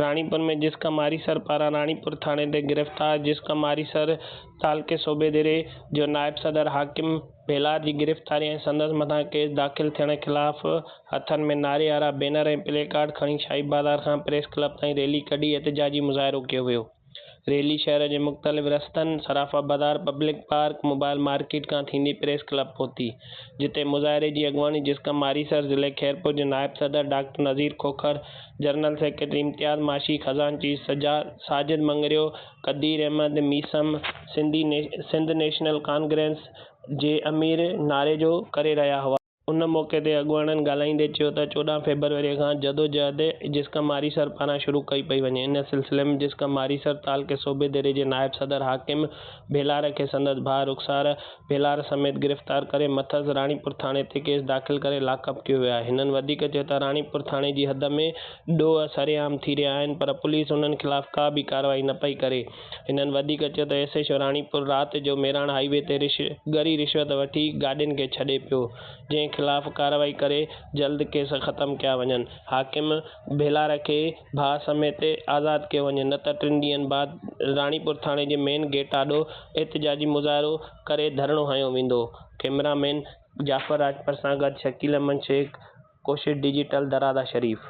راڻيپور ۾ جسڪا ماري سر پاران راڻيپور ٿاڻي تي گرفتار جسڪا ماري سر تعلقي صوبيدري جو نائب صدر حاڪم ڀيلار جي گرفتاري ۽ سندس مٿان ڪيس داخل ٿيڻ خلاف هٿن ۾ نعري وارا بينر ۽ پلي ڪارڊ کڻي شاهي بازار کان پريس ڪلب تائين ريلي ڪڍي احتجاجي مظاهرو ڪيو ويو. ريلي شهر جي مختلف رستن، Sarafa Bazaar, public park, mobile market کان ٿيندي پريس ڪلب پهتي، جتي مظاهري جي اڳواڻي جسقم آريسر، ضلعي خيرپور جي نائب صدر doctor Nazir Khokhar, general secretary Imtiaz Maashi, خزان chief Sajid Mangrio, Qadir Ahmed Maisam, Sindhi Sindh national congress جي امير ناريجو ڪري رهيا هئا. ان موقعي تي اڳواڻن ڳالهائيندي چيو ته چوڏهن فيبروري کان جدوجهد جسقم ماريسر پاران شروع ڪئي پئي وڃي ان سلسلي ۾ جسقم ماريسر تعلقي صوبي ديري جي نائب صدر حاڪم ڀيلار کي سندس ڀاء رخسار ڀيلار سميت گرفتار ڪري مٿس راڻيپور ٿاڻي تي ڪيس داخل ڪري لاڪ اپ ڪيو ويو آهي هنن وڌيڪ چيو ته راڻيپور ٿاڻي جي حد ۾ ڏوهه سرعام ٿي رهيا آهن پر پوليس انهن خلاف ڪا به ڪارروائي نه پئي ڪري هنن وڌيڪ چيو ته ايس ايڇ او راڻيپور رات جو ميراڻ هاء وي تي رش ڳري رشوت وٺي گاڏين کي ڇڏي پيو جنهن خلاف ڪارروائي ڪري جلد ڪيس ختم ڪيا وڃن حاڪم ڀيلار کي ڀاء سميت آزاد ڪيو وڃي نه ته ٽن ڏينهن بعد راڻيپور ٿاڻي جي مين گيٽ آڏو احتجاجي مظاهرو ڪري ڌرڻو هنيو ويندو ڪئميرا مين جعفر راڄپر سان گڏ شڪيل احمد شيخ ڪوشش ڊجيٽل درادا شريف.